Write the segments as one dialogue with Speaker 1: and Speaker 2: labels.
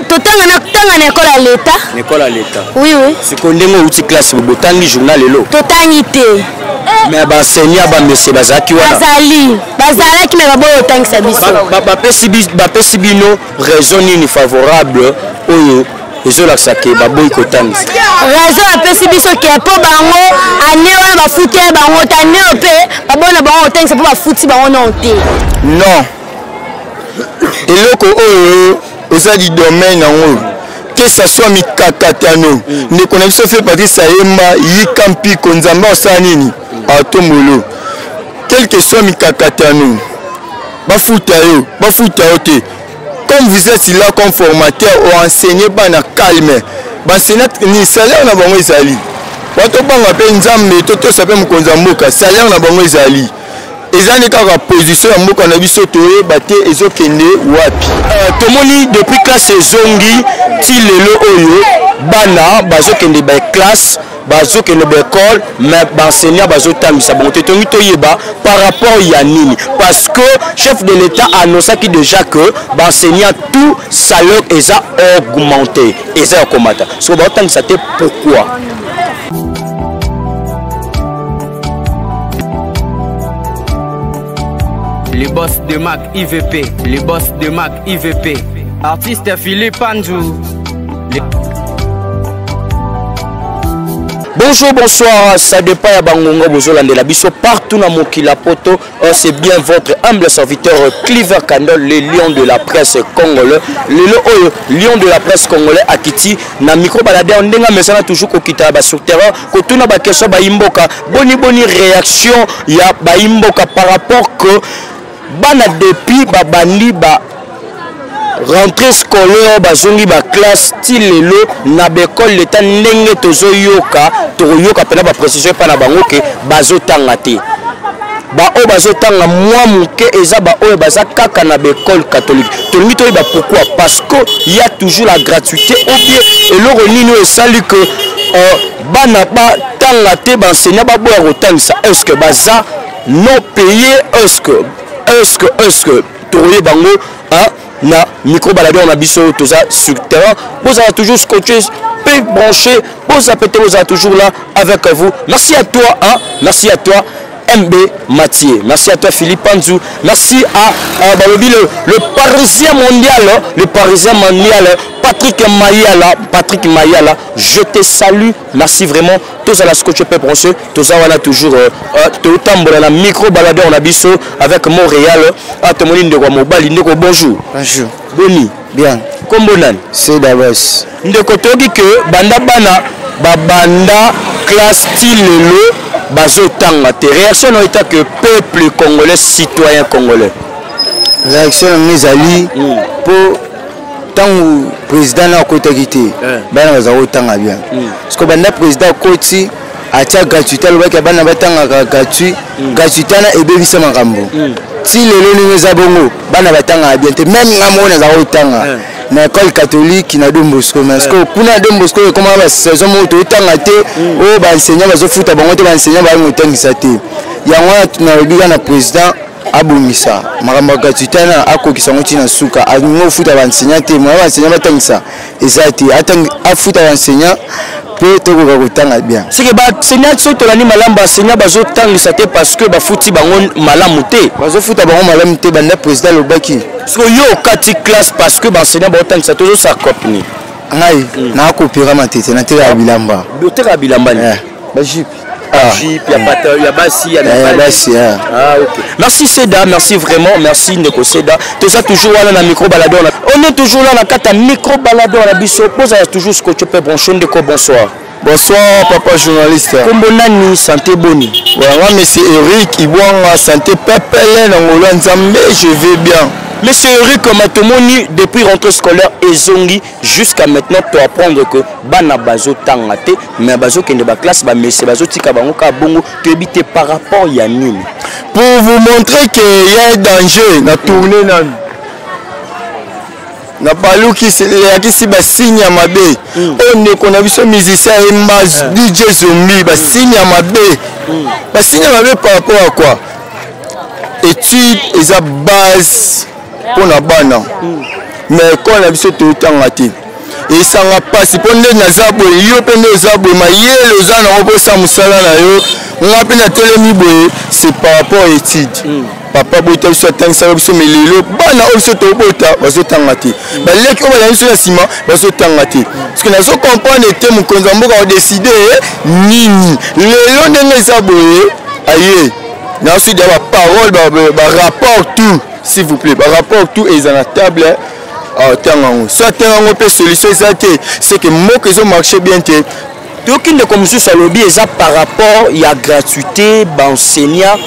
Speaker 1: totanga na tanga na ekole ya leta na ekole ya leta
Speaker 2: oui oui sikoyo ndenge
Speaker 1: outi classe
Speaker 2: botangi journal lelo totangi te
Speaker 1: me baenseignant
Speaker 2: bamese bazalaki wana bazali bazalaki
Speaker 1: me baboyi otangisa biso
Speaker 2: bapesi bino raison nini favorable oyo ezolakisa ke baboyi kotangisa raison bapesi
Speaker 1: biso ke mpo bango ane wana bafuti bango te ane oyo mpe babona bango kotangisa mpo bafuti bango nao te non
Speaker 3: eloko oyo eza di domaine yango que ça soit mikakatano ndeko na biso fe patrice ayemba yika mpiko nzambe asala nini atombolo quel que soit mikakatano bafuta yo bafuta yo te comme vous êtes là comme formateur oenseigne bana calme banseignat ni salaire na bango ezali bato banga mpe nzambe totosa mpe mokonzi ya mboka salaire na bango ezali eza nde kaka position ya mboka na biso toyeba te ezokende wapi uh, tomoni
Speaker 2: depuis classe ezongi ti lelo oyo bana bazokende baeklasse bazokende baekole mais baenseignant bazotambisa bango te tongi toyeba par rapport ya nini parce que chef de l'état annoncaki déjà que baenseignant tout salaire eza augmenté eza ya komata soko baotangisa te pourquoi
Speaker 4: Le boss de Mac IVP, le boss de Mac IVP, artiste Philippe Andrew.
Speaker 2: bonjour bonsoir ça dépend ya bangonga bozolandela biso partout na mokili ya poto Oh, c'est bien votre humble serviteur Cleaver Candol, le lion de la presse congolais. Le oh, lion de la presse congolais à Kiti, na micro baladé, on denga mais ça a toujours kokita ba sur terrain, kotuna ba question ba imboka, boni boni réaction ya ba imboka par rapport que bana depuis ba bandi ba rentrée scolaire bazongi baklasse ti lelo na baekole leta ndenge tozoyoka tokoyoka mpena baprecision epai na bango ke bazotanga te baoyo bazotanga mwa moke eza baoyo baza kaka na baekole catholique tolingi toyeba pourkui parce que ya toujours la gratuité obie eloko nini oyo esali ke euh, bana batanga te baenseignant baboya kotangisa est ce que baza non paye est ce que est ce que est ce que tokoyeba yango na micro baladeur na biso toza sur terrain bozala toujours scotché pe branché boza pete bozala toujours là avec vous merci à toi hein? merci à toi MB Mathieu. Merci à toi Philippe Panzou. Merci à, à Balobi, le, le, Parisien mondial, hein. le Parisien mondial, hein. Patrick Mayala. Patrick Mayala, je te salue. Merci vraiment. Tous à la scotche peuple français. Tous à la toujours. Euh, euh, tout tambour la micro baladeur na biso avec Montréal. À ah, tout monde de Mobali. Ndeko bonjour. Bonjour. Boni.
Speaker 3: Bien.
Speaker 2: Kombo
Speaker 3: nani?
Speaker 2: C'est Davos.
Speaker 3: Ndeko toki que
Speaker 2: banda bana babanda classe tilelo bazo tanga te. Réaction na état que peuple congolais citoyen congolais. Réaction
Speaker 3: na ezali hmm. pour ntango président na akotaki te eh. bana bazala kotanga bien hmm. parceke banda président akoti atya gratuité alobaki ya bana batangaka gratuit hmm. gratuité wana ebebisa makambo hmm. ti lelo ndenge eza bongo bana batangaka bien te meme nga moko nazala kotanga eh. na école catholique na don bosco mais sikoyo eh. kuna na don bosco ekomaka basaison moko toyotanga te oyo oh, baenseignant bazofuta bango te baenseignant bayango otangisa te yango wana nalobi kaka na président abongisa makambo ya gratuité wana akokisa yango ntina suka alingi ofuta baenseignant te moya baenseignant batangisa eza te afuta baenseignant mpe tokoka kotanga bien seke baenseignant
Speaker 2: soki tolandi malamu baenseignant bazotangisa te parce que bafuti bango malamu te bazofuta bango malamu
Speaker 3: te banda président alobaki soki yo okati
Speaker 2: classe parce que baenseignant baotangisa tozosala copni ngai hmm.
Speaker 3: nakopera matete nateka ya bilamba boteka ya bilamba eh.
Speaker 2: bajipe Ah.
Speaker 3: Jeep, ya
Speaker 2: bata, ya basi, ya Eh, ya basi, eh. Ah, ok. Merci Seda, merci vraiment, merci Ndeko Seda. Toza toujours wana na micro baladon. na- On est toujours là na kata micro baladon na biso. Boza toujours scotché pe branché ndeko bonsoir. Bonsoir
Speaker 3: papa journaliste. Kombo nani
Speaker 2: santé boni? Vraiment monsieur
Speaker 3: Eric Ibwanga santé pepele na ngolo ya Nzambe je vais bien. Monsieur Eric
Speaker 2: Matomoni depuis rentrée scolaire ezongi jusqu'à maintenant to apprendre que bana bazo tanga te mais bazo kende ba classe ba messe bazo tika bango ka bongo to ebite par rapport ya nini pour vous
Speaker 3: montrer que y a un danger na tourner na na baluki eyakisi basigne ya mabe oyo mm. oh, ndeko na biso musicien ye mas eh. dj zombi basigne ya mabe mm. basigne ya mabe par rapport ya quoi étude eza base mpo na bana me ekole na biso toyotanga te esanga mpasi mpo nde naza boye yo mpe nde oza boye mayele oza nango mpo osa mosala na yo nga mpe natelemi boye se par rapport étude mm. papa bota biso atangisaka biso me lelo bana oyo biso tobota bazotanga te mm. baleki oyo balandi biso na nsima bazotanga te parceke nazo comprendre ete mokonzi ya mboka odeside eh, nini lelo ndenge eza boye aye na sudi ya baparole barapport tout s'il vous plaît par rapport tout eza na table atanga yango so atanga yango mpe solution eza te seke mboka ezomarche bien te toyoki ndeko
Speaker 2: mosusu alobi eza par rapport ya gratuité baenseignant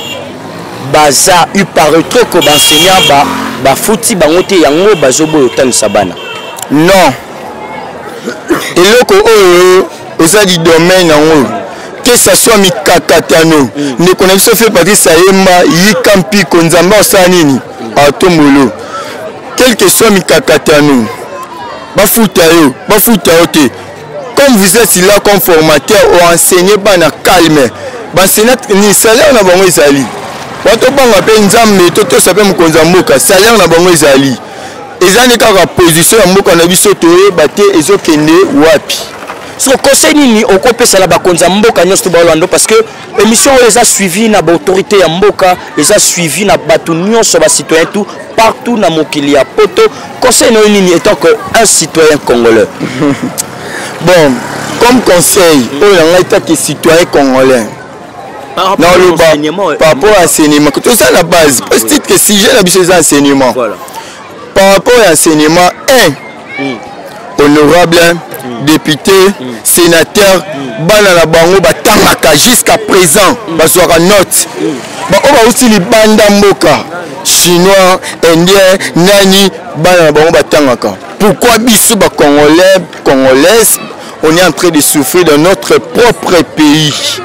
Speaker 2: baza upare troko baenseignant bafuti bango te yango bazoboya otalisa bana non
Speaker 3: eloko oyo oza di domaine yango que ça soit mikakatano ndeko na biso fie patrice ayemba yika mpiko nzambe asala nini atombolo quel que soit mikakatano bafuta yo bafuta yo te comme vous êtes là comme formateur oenseigne bana calme baenseigne ni salaire na bango ezali bato banga mpe nzambe totosa mpe mokonzi ya mboka salaire na bango ezali eza nde kaka position ya mboka na biso toyeba te ezokende wapi so conseil
Speaker 2: nini okopesa na bakonzi ya mboka nyonso to baolando parce que émission oyo eza suivi na baautorité ya mboka eza suivi na bato nyonso bacitoyen tout partout na mokili ya poto conseil na yo nini étant que un citoyen congolais
Speaker 3: bon comme conseil oyo na ngai taki citoyen congolais naoloba par rapport ya enseignement toza na base parce titre que sujet na biso eza enseignement par rapport ya enseignement 1 hmm. honorable hmm. député hmm. sénateur bana na bango batangaka jusqu'à présent bazwaka note baoyo bauti libanda mboka chinois indien nani bana na bango batangaka pourquoi biso bacongolais congolaise On est en train de souffrir dans notre propre pays.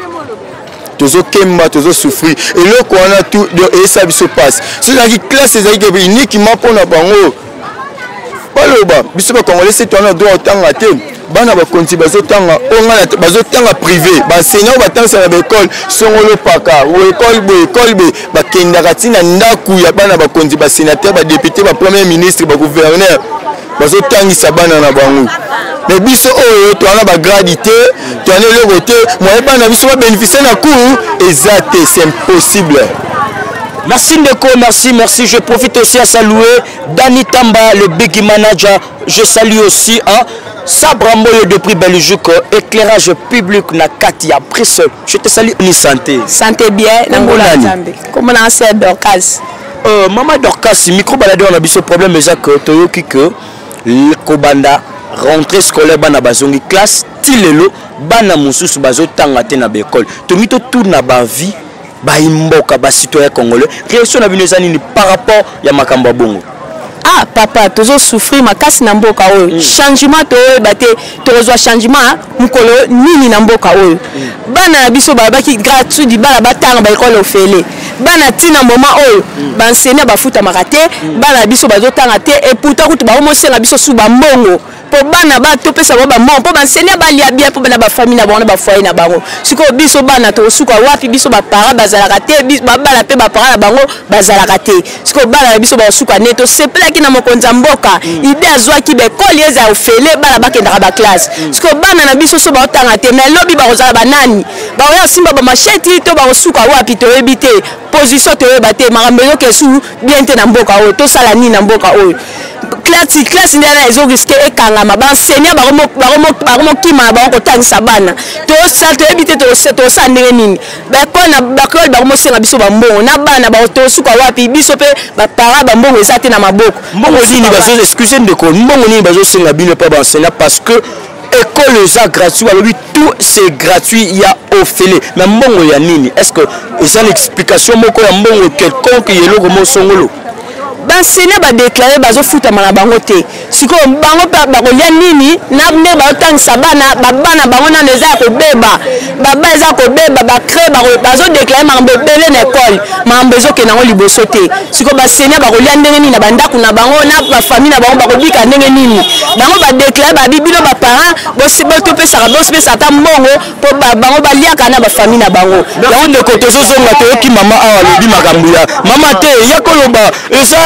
Speaker 3: tozokemba tozosouffrir eloko wana tu eyesa biso mpasi soki ezalaki classe ezalaki kebe uniquement mpo na bango baloba biso bacongolais se toana droit otanga te bana bakonzi bazotanga ongana bazotanga privé baenseignant oyo batangisa na baekole songolo paka ekole boye ekole boye bakendaka ntina ndako ya bana bakonzi basenateur badepute bapremier ministre bagouverneur bazotangisa bana na bango me biso oyo towana bagradi te towana eloko te moye bana na biso babénéficie na cour eza te c'est impossible Merci
Speaker 2: Ndeko, merci, merci. Je profite aussi à saluer Danny Tamba, le big manager. Je salue aussi hein, Sabra Moyo de prix Belgique, éclairage public na Katia Brissol. Je te salue ni santé. Santé bien,
Speaker 1: Nangola Zambi. Comment on s'est Dorcas Euh, mama
Speaker 2: dorcas micro baladeur na biso problème eza que toyoki que kobanda rentrée scolaire bana bazongi classe ti lelo bana mosusu bazotanga te na baekole tomi totourna bavie baimboka bacitoyen congolais réaction na bino eza nini par rapport ya makambo ya bongo ah papa
Speaker 1: tozosouffrir makasi na mboka oyo mm. changement toyeba te tokozwa changement mokolo nini na mboka oyo bana na biso balobaki gratuit libala batanga baekole ofele bana ntina moma oyo bansenia bafutamaka te bana na biso bazotanga te eputa kutu baomosenga biso su bambongo mpo bana ba topesa bango bambongo mpo bansenia balia bien mpo bana bafami na bango na bafoye na bango sikoyo biso bana tokosuka wapi biso bapara bazalaka te babala mpe bapara na bango bazalaka te sikoyo bana na biso bakosuka nde tosepelaki na mokonzi ya mboka mm. ide azwaki baekole eza ya ofele bana bakendaka baklasse mm. sikoyo bana na biso so baotanga te mai lobi bakozala banani bakoya kosimba bamasheti to bakosuka wapi toyebi te position toyeba te makambo ezoka esu bien te na mboka oyo tosala nini na mboka oyo klasi klasi nde wana ezoriske ekangama baenseignant bakomokima na bango kotangisa bana toyebi te tosala ndenge nini baekole na bakreole bango mosenga biso bambongo na bana baotosuka wapi biso mpe bapara bambongo eza te na maboko mbongo nini bazo
Speaker 2: excuse ndeko mbongo nini bazosenga bino mpe baenseignant parce que ekolo eza gratuit balobi tout c'est gratuit ya ofele mais mbongo ya nini est ce que eza na explication moko ya mbongo quelconque ya eloko mosongolo baenseignant
Speaker 1: badeklare bazofutama na bango te sikoyo bango mpe bakolia nini na ndenge baotangisa bana babana bango nano eza ya kobeba baba eza kobeba bacre bazodeklare makambo ebele na ekole makambo ezokende yango liboso te sikoyo basenia bakolia ndenge nini na bandako na bango na bafamille na bango bakobika ndenge nini bango badeklare babi bino baparent topesaka bosipesa ata mbongo mpo bango baliaka na bafamille na bango yango ndeko tozozonga
Speaker 2: toyoki mama awa alobi makambo ya mama te ya koloba eza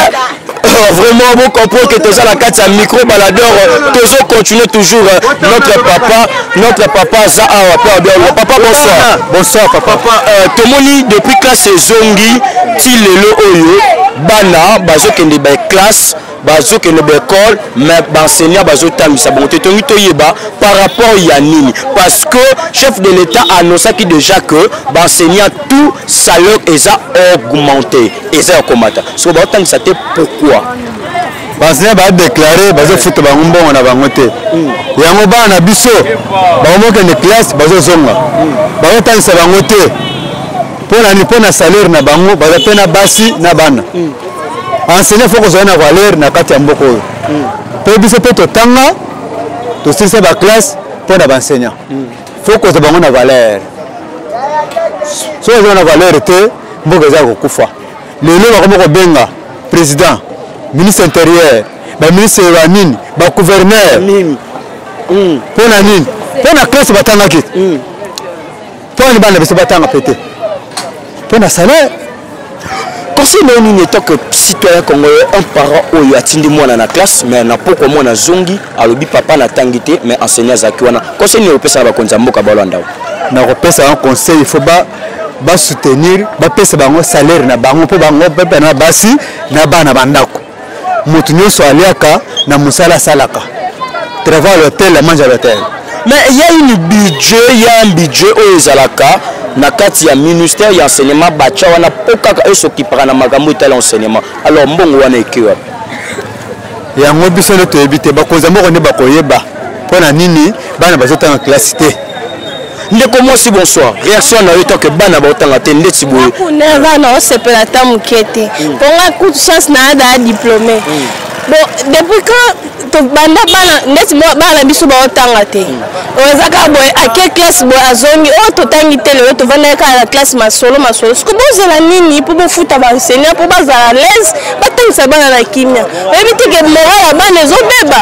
Speaker 2: vraiment vous comprenez que toza la carte à micro baladeur toujours continuer toujours notre papa notre papa aza awa pe abialo papa bonsoir bonsoir papa papa euh, tomoni depuis classe ezongi ti lelo oyo bana bazokende ba classe bazokende ba école mais baenseignant bazotambisa bango te tongi toyeba par rapport ya nini parce que chef de l'état annoncaki déjà que baenseignant tout salaire eza augmenté eza ya komata soko baotangisa te pourquoi bansenya
Speaker 3: badeklare bazofuta bango mbongo na bango te hmm. yango bana na biso bakomokende classe bazozonga hmm. bazotangisa bango te mpo na nini mpo na salaire na bango baza mpe na basi na bana hmm. enseigne fo kozala na valeur na kati ya mboka oyo mpe biso mpe totanga tosilisa baklasse mpo na banseignant faut kozwa bango na valeur soki ozwa na valeur te mboka eza kokufa lelo bakoma kobenga président ministre intérieur baministre ya nini bagouverneur hmm. mpo na nini mpo na classe batangaki hmm. mpo na libanda biso batanga mpe te mpo na salaire conseil nayo nini etant que citoyen congolais un parent oyo atindi mwana na classe mais na pokwa mwana azongi alobi papa natangi te mais enseignant azalaki wana conseil nini okopesa na bakonzi ya mboka balwanda oyo nakopesa yango conseil il faut ba basoutenir bapesa bango salaire na bango mpo bango bapena basi na bana bandako moto nyonso aliaka na mosala asalaka travail à l'hôtel la mange à l'hôtel mais il y a une budget il y a un budget oyo ezalaka na kati ya ministère ya enseignement batya wana mpo kaka esokipaka na makambo etali enseignement alors mbongo wana ekei wapi yango biso nde toyebi te bakonzi ya moko nde bakoyeba mpo na nini bana bazotanga kelasi te ndeko mwasi bonsoir réaction na yo tanke bana baotanga te ndeti boye nerva na osepela ata moke te hmm. mpo nga kutu chance na ada ya diplôme hmm. bon depuis quand tobanda bana ndeti bana na biso baotanga te hmm. oyo eza kaka boye ake classe boye azongi oyo oh, totangi te lelo tovandaki kaka na classe masolo masolo siko bozela nini mpo bofuta baenseignant mpo bazala laise batangisa bana na kimia oyebi te ke moral ya bana ezobeba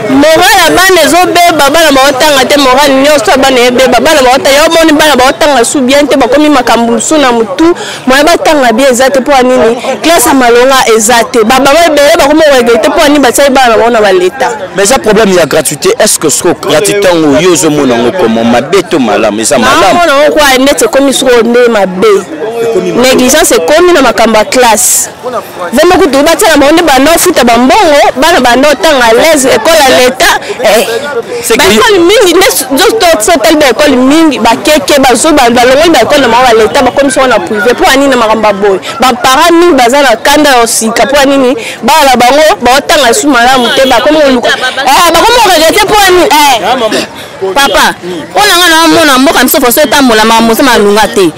Speaker 3: moral ya bana ezobeba bana baotanga te moral nyonso ya bana ebeba bana baotanga yo omoni bana baotanga su bien te bakomi makambo mosusu na motu moya batanga bien eza te mpo ya nini classe ya malonga eza te babama ebele bakomi oregele te mpo ya nini batiaki bana na bango na baleta mais eza problème ya gratuité est ce que soko gratuité yango yo ozomona yango komo mabe to malamu eza malamu mona yango kwa neti ekomi soko nde mabe négligence ekomi na makambo ya classe vraiment kutu batiaka bango nde banda ofuta bambongo bana banda otanga alaise ekole ya leta eh. baekole mingi nde sotali baekole mingi bakeke bazoba balongoli baekole na bango ya leta bakomisi yango na privé mpo ya nini na makambo ya boye baparent mingi baza na kanda ya sika mpo ya nini bana na bango baotanga lisusu malamu te bakomi koluka eh, bakomi koregrete mpo ya nini eh. papa mpo na ngai naamona mboka miso faso etambola makambo mosa malunga te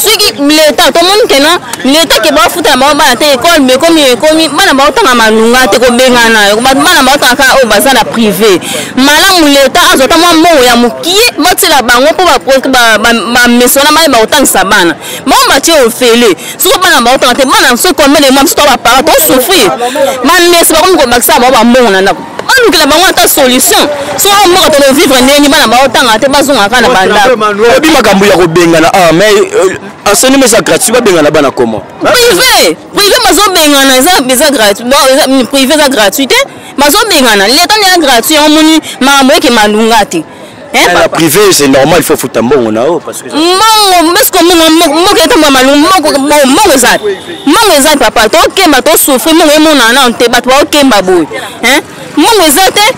Speaker 3: soki leta tomoni keno leta ke baofuta na bango bana te ekole bekomi ekomi bana baotanga malunga te kobengana bana baotanga kaka oyo baza na privé malamu leta azwa ta mwa mbongo ya mokie batiela bango mpo bamesona bana bakotangisa bana bango batie ofele soki bana baotanga te bana soki komele mwa biso to bapara tosouffrir bameso bakomi kobakisa bango bambongo na ndako balukela bango ata solution soki mboka toko vivre ndenge bana baotanga te bazonga kaka na bandaoyebi makambo ya kobengana a ah, mais euh, enseignement eza gratuit babengana bana comment privé privé bazobengana eza gratuit privé eza gratuit te bazobengana leta nde ya gratuit yango moni makambo eke malunga te Eh, na privé c'est normal il faut futa mbongo na yo parce que mbongo mbesko mbongo mbongo etambwa malungu mbongo mbongo eza mbongo eza papa tokemba tosufri mbongo emonana nano te bato baokemba boye eh? mbongo eza te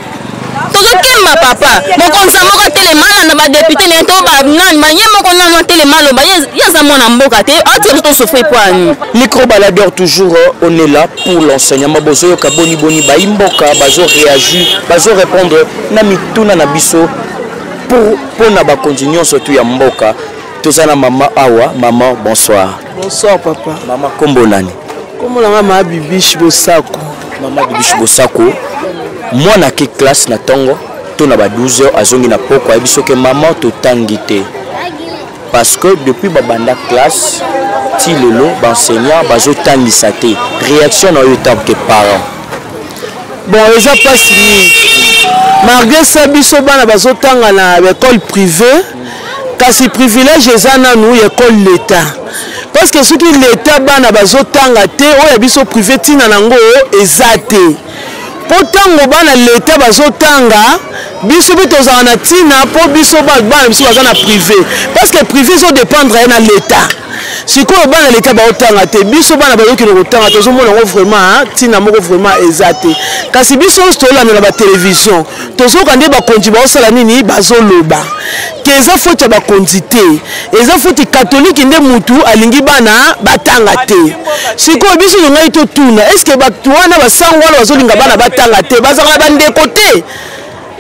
Speaker 3: tozokemba papa mokonzi ya moko atelemana na badepute na ye to banani ba ye moko nano atelema aloba ye aza mwana mboka te atika biso tosofri mpo ya nini microbaladeur toujours euh, on est là pour l'enseignement bozoyoka boni boni bayi mboka bazo réagir bazo répondre na mituna na biso mpo na bakonzi nyonso tu ya mboka toza na mama awa mama bonsoir bonsoir papa mama nkombo nani nkombo na ngai mama bibish bosako mama bibish bosako mwana ake classe na ntongo to na ba 12 heures azongi na poko ayebi soki mama totangi te parce que depuis babanda classe ti lelo baenseignant bazotangisa te réaction na oyo etambo ke parent bon eza mpasi mingi malgré ça biso bana bazotanga na baekole privée kasi privilège eza nanu ya ekole leta parce
Speaker 5: que soki leta bana bazotanga te oyo ya biso privé ntina na yango eza te mpo ntango bana leta bazotanga biso mpe tozala na ntina mpo biso bana biso baza na prive parce que prive ezodépendre ye na leta sikoyo bana leta baotanga te biso bana bayokende kotanga tozomona yango vraiment ntina moko vraiment eza te kasi biso nyonso tolandela batelevizio tozoka nde bakonzi baosala nini bazoloba ke eza foti ya bakonzi te eza foti katolike nde mutu alingi bana batanga te sikoyo biso zongai totuna eske bato wana basango wana bazolinga bana batanga te bazalaka na bandeko te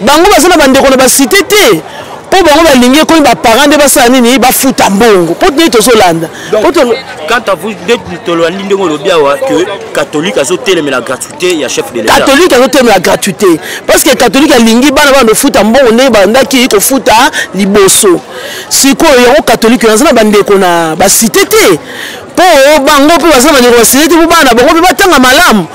Speaker 5: bango baza na bandeko na basite te mpo bango balingi ekomi baparent nde basala nini bafuta mbongo mpo tini tozolanda quant
Speaker 2: à vous nde tolandi ndenge olobi awa ke catholique azotelemela gratuit te ya chef de l'État. Catholique azo temo ya gratuité
Speaker 5: parce que catholique alingi bana bana dofuta mbongo nde bandaki kofuta liboso. Sikoyo yango catholique yango na bandeko na ba cité te mpo bango mpe baza na bandeko ba cité te mpo bana bango mpe batanga malamu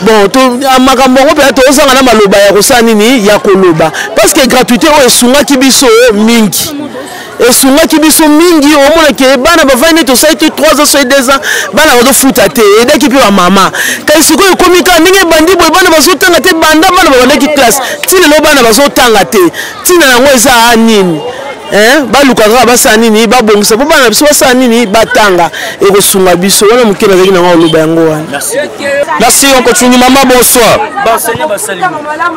Speaker 5: bon ah, makambo yango mpenza tozanga na maloba ya kosala nini ya koloba parce que gratuité oyo esungaki biso mingi esungaki biso mingi omona ke bana bavandi neti osali te 3 ans soki 2 ans bana bazofuta te edaki mpe bamama kasi sikoyo ekomi kaka ndenge ebandi boye bana bazotanga te banda bana babandaki classe ti lelo bana bazotanga te ntina yango eza a nini baluka kaka basala nini babongisa mpo bana na biso basala nini batanga ekosunga biso wana moke nazalaki nango oloba yango wana merci
Speaker 2: okotungi mama bonsoir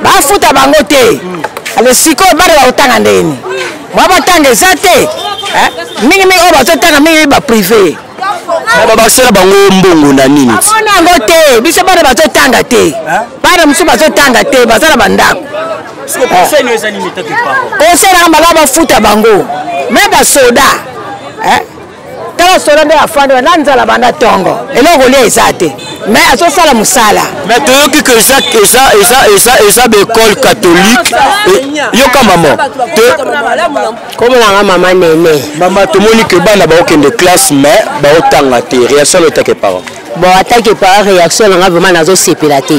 Speaker 2: bafuta
Speaker 6: bango te ale sikoyo bana bakotanga ndeni Mwa batanga eza te eh? mingi mingi oyo bazotanga mingi ba prive babakisela
Speaker 2: bango mbongo na nini amona yango te
Speaker 6: biso bana bazotanga te eh? bana mosusu bazotanga te baza na bandako kosela malamu bafuta bango me basoda eh? tala solo nde afandi na nzala banda tongo eloko olia eza te me azosala mosala me toyoki ke
Speaker 2: eza eza eza eza eza baekole catholique yoka mama
Speaker 6: kombo nanga mama nene mama tomoni ke
Speaker 2: bana baokende classe me baotanga te reaction lotake parent bon atake
Speaker 6: parent reaction nanga vraimen nazosepela te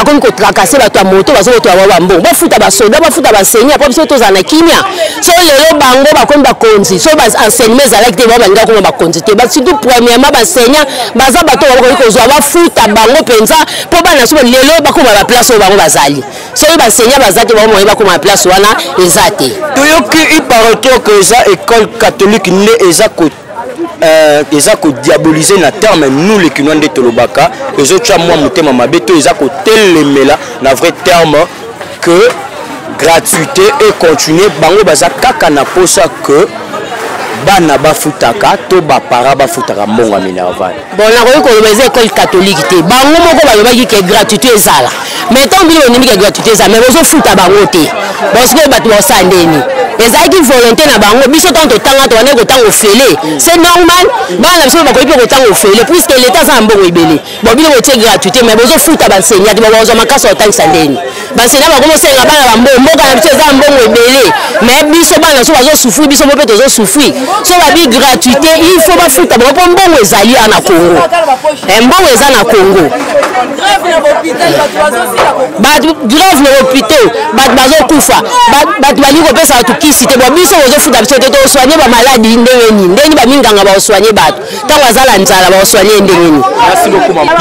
Speaker 6: akomi kotrakase bato ya moto bazo bato ya wawa mbongo bafuta basoda bafuta baseni apres biso tozala na kimia so lelo bango bakomi bakonzi so baenseignement ezalaki te bango balingi akoma bakonzi te surtout premièrement basenia baza bato oyo bakoki kozwa bafuta bango mpenza mpo bana so lelo bakoma baplace oyo bango bazali soki basenia baza te bango moye bakoma baplace wana eza te toyoki
Speaker 2: iparotoke eza école catholique nde eza Euh, eza kodiabolize na terme nous le kinois nde tolobaka ezotya mwa motema mabe to eza kotelemela na vrai terme que gratuité e continue bango baza kaka na mposa que bana bafutaka to baparent bafutaka mbongo ya minerval bon nakoki koloba
Speaker 6: eza ekole katolike te bango moko balobaki ke gratuité ezala mais ntango bino bonimi ke gratuité ezala mais bozofuta bango te bon sikoyo bato baosala ndeni ezalaki volonté na bango biso ntango totanga tobandaki kotanga ofele c'est normal bana na biso mpe bakoki mpe kotanga ofele puiske leta aza na mbongo ebele bon bino botie gratuité mais bozofuta bansenya te bakozwa makasi ya kotangisa ndeni basena bango bosenga bana bambo mboka na biso eza na mbongo ebele me biso bana so bazosufri biso mo mpe tozosufri so babi gratuité il faut bafuta bango mpo mbongo ezali ya na congo eh, mbongo eza na congo bato grave na hôpital bato bazokufa bato balingi kopesa bato kisi te bo biso bozofuta biso te tosoigne bamaladi ndenge nini ndenge nini baminganga baosoigne bato ntango azala nzala baosoigne ye ndenge nini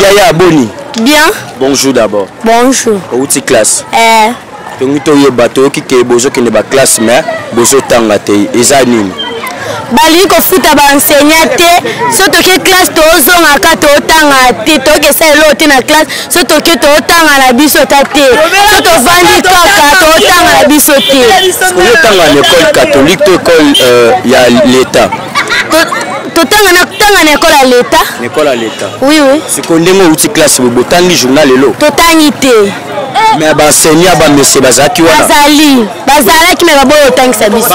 Speaker 2: yaya boni bien bonjour
Speaker 1: d'abord
Speaker 2: Bonjour. Outi
Speaker 1: classe.
Speaker 2: Eh. Tongi to yeba to ki ke bozo kende ba classe mais bozo tanga te eza nini? balingi
Speaker 1: kofuta baenseignant te so toke classe tozongaka totanga te tokesa eloo te na classe so toke totanga na biso ta te so tovandi kaka totanga na biso te oyotanga na
Speaker 2: école catholique to école euh, ya l'état
Speaker 1: totanga na tanga na ekole ya leta na ekole ya leta oui
Speaker 2: oui sikoyo ndenge
Speaker 1: outi classe
Speaker 2: boye botangi journal elo totangi te
Speaker 1: mais baenseignant
Speaker 2: bamese bazalaki wana bazali bazalaki
Speaker 1: me baboyi otangisa biso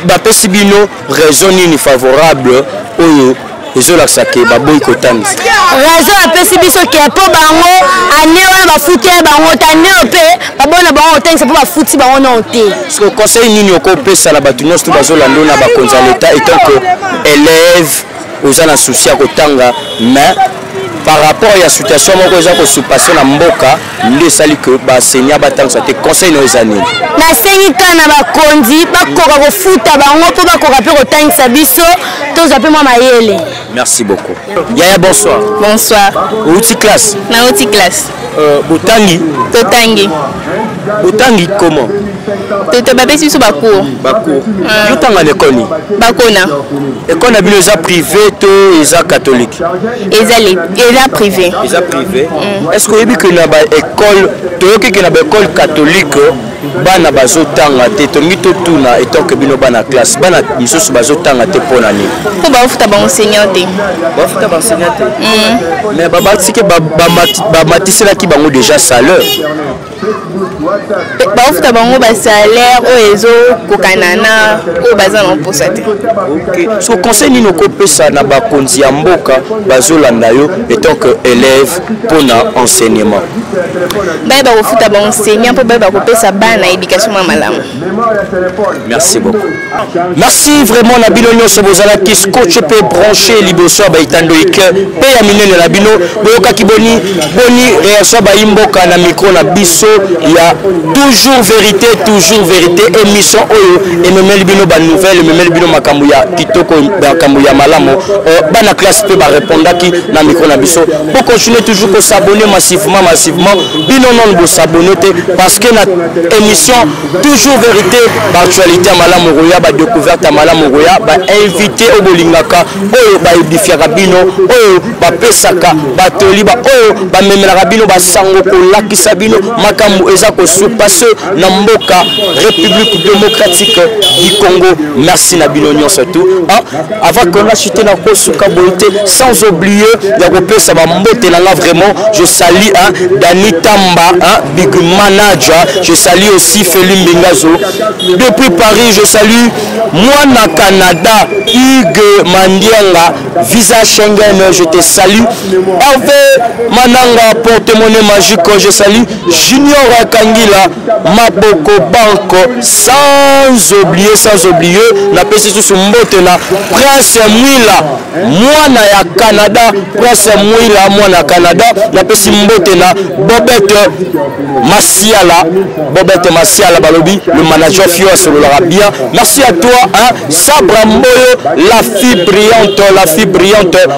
Speaker 1: bapesi
Speaker 2: bino raison nini favorable oyo ezolakisa ke baboyi kotangisa raison apesi
Speaker 6: biso ke mpo bango ane wana bafuti bango te ane oyo mpe babona bango kotangisa mpo bafuti bango nao te conseil nini
Speaker 2: okopesa na bato nyonso to bazolanda yo na bakonzi ya leta etant que élève oza na souci ya kotanga mais par rapport ya situation moko eza kosupase na mboka nde esali ke baenseignant batangisa te conseil nayo eza nini nasengi kaka na
Speaker 6: bakonzi bakoka kofuta bango mpo bakoka mpe kotangisa biso tozwa mpe mwa mayele merci beaucoup
Speaker 2: yaya bonsoir bonsoir
Speaker 1: outi classe
Speaker 2: na outi classe
Speaker 1: Euh, botangi
Speaker 2: totangi
Speaker 1: botangi
Speaker 2: comment toto
Speaker 1: bapesi biso bacour bacour euh. yo
Speaker 2: tanga na ekole nini bakona
Speaker 1: ekole na bino
Speaker 2: eza privé to eza catholique eza
Speaker 1: eza privé eza privé
Speaker 2: mm. est ce que oyebi ke na baekole toyoki ke na baekole catholique bana bazotanga te tolingi totuna etanke bino bana classe bana misusu bazotanga te mpo na nini mpo bafuta baenseignant
Speaker 1: te bafuta
Speaker 2: baenseignant te mm. mais babatike bamatiselaki bango déjà salaire
Speaker 1: bafuta bango basalaire oyo ezokokana na oyo baza na mposa te so
Speaker 2: conseil nini okopesa na bakonzi ya mboka bazolanda yo etant que élève mpo na enseignement baye
Speaker 1: bakofuta baenseignant mpo baye bakopesa bana éducation mwa malamu
Speaker 2: merci beaucoup merci vraiment na bino nyonso bozalaki scotch mpe branche liboso ya baitando ike mpe ya minene na bino boyokaki boni boni réaction ya bayimboka na micro na biso ya toujours vérité toujours vérité émission oyo ememeli bino banouvelle ememeli bino makambo ya kitoko makambo ya malamu euh, bana classe mpe barepondaki na micro na biso po continuer toujours ko s'abonner massivement massivement bino non bo s'abonner te parce que na émission toujours vérité ba actualité ya malamu koya ba découverte ya malamu koya ba invité oyo bolingaka oyo ba edifiaka bino oyo ba pesaka ba toli ba oyo ba memelaka bino ba sango kolakisa bino makambo eza ko surpasser na mboka République démocratique du Congo merci na bino nyonso tout avant que nga chute na kosuka boye te sans oublier ya kopesa bambote na nga vraiment je sali hein, dani tamba hein, big manager je sali aussi feli mbingazo depuis paris je sali mwana canada hugue mandianga visa schengen je te sali herve mananga porte monnaie magique je sali junior kangila maboko banko sans oublie sans oublie napesi susu mbote na prince mwila mwana ya canada prince mwila mwana ya canada napesi mbote na bobete masiala bobete masiala balobi le manager fio asololaka bien merci à toi hein? sabra mboyo la fille brillante la fille brillante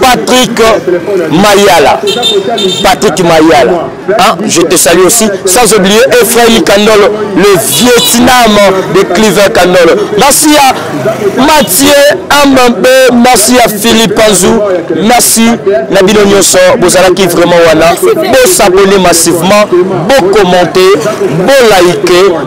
Speaker 2: Patrick Mayala. Patrick Mayala. Hein? Je te salue aussi. Sans oublier Ephraim Kandolo, le Vietnam de Cleaver Kandolo. Merci à Mathieu Ambambe. Merci à Philippe Anzou. Merci Nabino Nyoso. Bozalaki vraiment wana. Bo s'abonner massivement. Bo commenter. Bo liker.